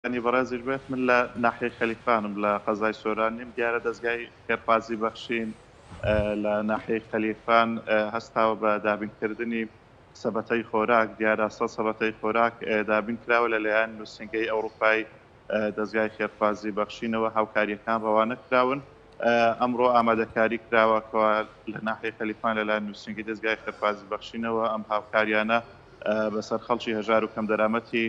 یانی بەڕێزیش بێت من لە ناحیەی خەلیفانم لە قەزای سۆران نیم دیارە دەزگای خێرخوازی بەخشین لە ناحیەی خەلیفان هەستاوە بە دابینکردنی سەبەتەی خۆراک دیارە سە سەبەتەی خۆراک دابین کراوە لەلایەن نووسنگەی ئەوروپای دەستگای خێرخوازی بەخشینەوە هاوکاریەکان ڕەوانە کراون ئەمڕۆ ئامادەکاری کراوە کەوا لە ناحی خەلیفان لەلا نووسنگی دەستگای خێرخوازی بەخشینەوە ئەم هاوکاریانە بەسەر خەڵکی هەژار و کەم دەرامەتی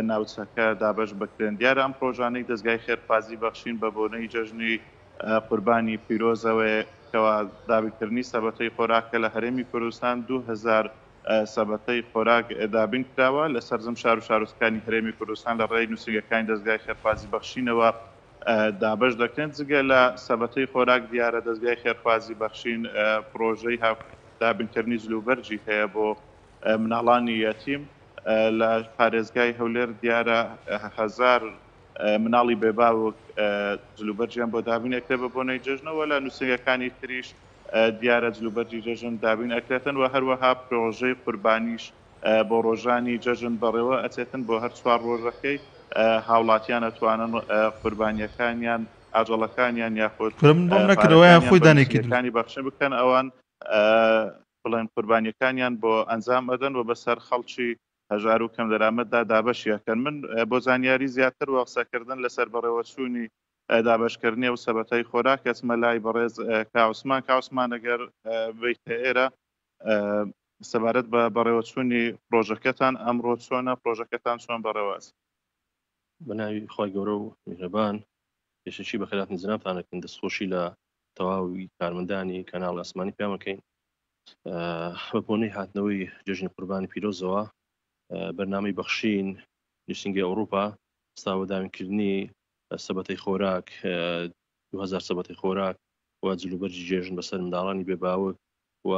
ناوچەکە دابەش بکرێن. دیارە ئەم پرۆژانەی دەزگای خێرخوازی بەخشین بە بۆنەی جەژنی قوربانی پیرۆزەوەیە، کەوا دابینکردنی سەبەتەی خۆراکە لە هەرێمی کوردستان، دوو هەزار سەبەتەی خۆراک دابین کراوە لە سەرجەم شار و شارۆچکانی هەرێمی کوردستان لە ڕێی نووسینگەکانی دەزگای خێرخوازی بەخشینەوە دابەش دەکرێن جگە لە سەبەتەی خۆراک دیارە دەزگای خێرخوازی بەخشین پرۆژەی دابینکردنی جلوبەرگی هەیە بۆ مناڵانی یەتیم، لە پارێزگای هەولێر دیارە هەزار مناڵی بێ باوک جلوبەرگیان بۆ دابین ئەکرێت بە بۆنەی جەژنەوە لە نووسنگەکانی تریش دیارە جلوبەرگی جەژن دابین ئەکرێتن و هەروەها پرۆژەی قوربانیش بۆ ڕۆژانی جەژن بەڕێوە ئەچێتن بۆ هەر چوار ڕۆژەکەی هاوڵاتیان ئەتوانن قوربانیەکانیان ئاجەڵەکانیان یاخود من بۆم نەکردەوەیان خۆی دانێکیەکانی بەخشن بکەن ئەوان بڵێن قوربانیەکانیان بۆ ئەنجام ئەدەن و بەسەر خەڵکی هەژارو کەم دەرامەتدا دابەشی ئەکەن من بۆ زانیاری زیاتر و قسەکردن لەسەر بەڕێوەچوونی دابەشکردنی ئەو سەبەتەی خۆراک ئەچمە لای بەڕێز کا عوسمان کا عوسمان ئەگەر بیتە ئێرە سەبارەت بە بەڕێوەچوونی پڕۆژەکەتان ئەمڕۆ چۆنە پڕۆژەکەتان چۆن بەڕێوەچ. بەناوی خوای گەورە و میهرەبان پێشەکی بەخێراتن جەنابتان ئەکەین دەستخۆشی لە تەواوی کارمەندانی کەناڵی ئاسمانی پێیان بکەین بە بۆنەی هاتنەوەی جژنی قوربانی پیرۆزەوە بەرنامەی بەخشین نووسنگی ئەوروپا ستاوەداوینکردنی سەبەتەی خۆراک 2000 سەبەتی خۆراک و جلوبەرجی جێژن بەسەر منداڵانی بێباوک و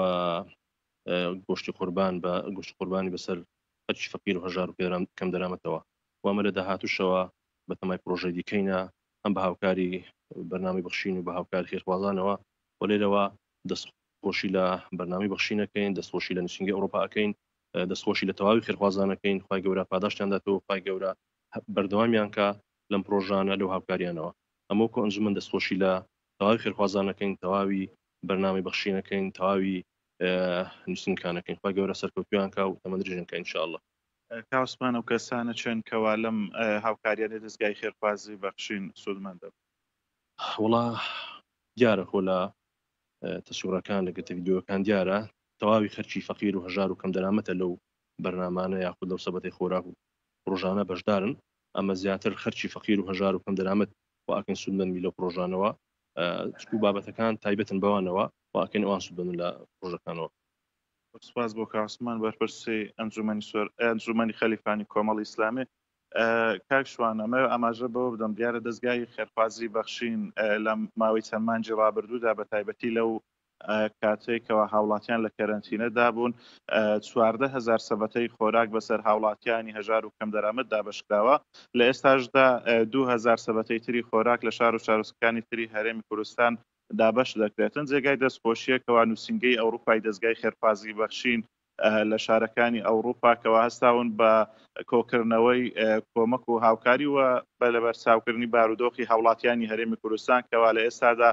گۆشتی قوربان بە گوشت قوربانی بەسەر خەرکی فەقیر و هەژار و پێران کەم دەرامەتەوە وامە لە داهاتوشەوە بەتەمای پرۆژەی دیکەینە هەم بە هاوکاری بەرنامەی بەخشین و بە هاوکاری خێرخوازانەوە و لێرەوە دەست خۆشی لە بەرنامەی بەخشین ئەکەین دەست خۆشی لە نوسینگەی ئەوڕۆپا ئەکەین دەست خۆشی لە تەواوی خێرخوازان ئەکەین خوای گەورە پاداشتیان داتەوە خوای گەورە بەردەوامیان کا لەم پڕۆژانە لەو هاوکاریانەوە ئەمەو کۆ ئەنجومەن دەست خۆشی لە تەواوی خێرخوازان ئەکەین تەواوی بەرنامەی بەخشین ئەکەین تەواوی نوسینگەکان ئەکەین خوای گەورە سەرکەوتویان کا و تەمەن درێژیان کا ان شاء اللە. کاو سپان ئەو کەسانە چێن کەوا لەم هاوکاریانەی دەزگای خێرخوازی بەخشین سوودمەند دەبن؟ وەڵا دیارە خۆ لە تەسوڕەکان لە گرتە ڤیدیۆکان دیارە تەواوی خەرکی فەقیر و هەژار و کەم دەرامەتە لەو بەرنامانە یاخود لەو سەبەتەی خۆراک و پڕۆژانە بەشدارن ئەمە زیاتر خەرکی فەقیر و هەژار و کەم دەرامەت و ئەکەن سوودمەند بی لەو پڕۆژانەوە چکو بابەتەکان تایبەتن بەوانەوە و ئەکەن ئەوان سوودمەند لە پڕۆژەکانەوە سپاس بۆ کاسمان بەرپرسی ئەنجومەنی سوەر ئەنجومەنی خەلیفانی کۆمەڵ ئیسلامی کاک شوان ئەمە ئاماژە بەوە بدەم دیارە دەستگای خێرخوازی بەخشین لە ماوەی چەند مانجی ڕابردوودا بە تایبەتی لەو کاتێکەوە هاوڵاتیان لە کەرەنتینەدا بوون چواردە هزار سەبەتەی خۆراک بەسەر هاوڵاتیانی هەژار و کەم دەرامەت دابشکراوە لە ئێستاشدا دوهزار سەبەتەی تری خۆراک لە شار و شارۆچکەکانی تری هەرێمی کوردستان دابەش دەکرێتن، جێگای دەستخۆشیە کەوا نوسینگەی ئەوروپای دەزگای خێرخوازی بەخشین لە شارەکانی ئەوروپا کەوا هەستاون بە کۆکردنەوەی کۆمەک و هاوکاری و بە لەبەرچاوکردنی بارودۆخی هاوڵاتیانی هەرێمی کوردستان کەوا لە ئێستادا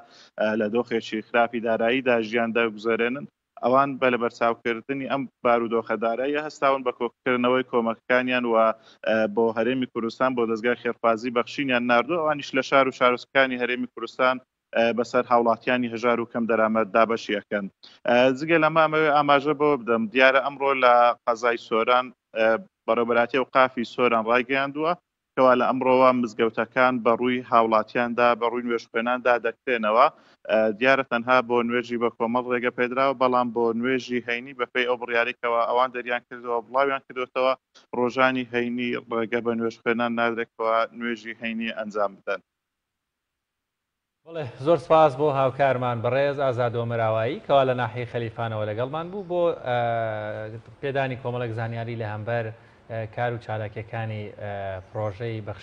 لە دۆخێکی خراپی داراییدا ژیان دەگوزەرێنن ئەوان بە لەبەرچاوکردنی ئەم بارودۆخە داراییە هەستاون بە کۆکردنەوەی کۆمەکەکانیان و بۆ هەرێمی کوردستان بۆ دەزگای خێرخوازی بەخشینیان ناردووە، ئەوانیش لە شار و شارۆچکەکانی هەرێمی کوردستان بەسەر هاوڵاتیانی هەژار و کەم دەرامەت دابەشی ئەکەن. جگە لەمە ئەمەوێ ئاماژە بەوە بدەم، دیارە ئەمڕۆ لە قەزای سۆران بەڕێوەبەرایەتی ئەوقافی سۆران ڕایگەیاندووە، کەوا لە ئەمڕۆوە مزگەوتەکان بە ڕووی هاوڵاتیاندا بە ڕووی نوێژخوێنان دادەکرێنەوە، دیارە تەنها بۆ نوێژی بە کۆمەڵ ڕێگە پێدراوە، بەڵام بۆ نوێژی هەینی بە پێی ئەو بڕیارەی کەوا ئەوان دەریان کردووە بڵاویان کردۆتەوە ڕۆژانی هەینی ڕێگە بە نوێژخوێنان نادرێت کەوا نوێژی هەینی ئەنجام بدەن. بەڵێ زۆر سپاس بۆ هاوکارمان بەڕێز ئازاد ئۆمەراوایی کەوا لە ناحیەی خەلیفانەوە لەگەڵمان بوو بۆ پێدانی کۆمەڵێک زانیاری لە هەمبەر کار و چالاکیەکانی پڕۆژەی بەخشینی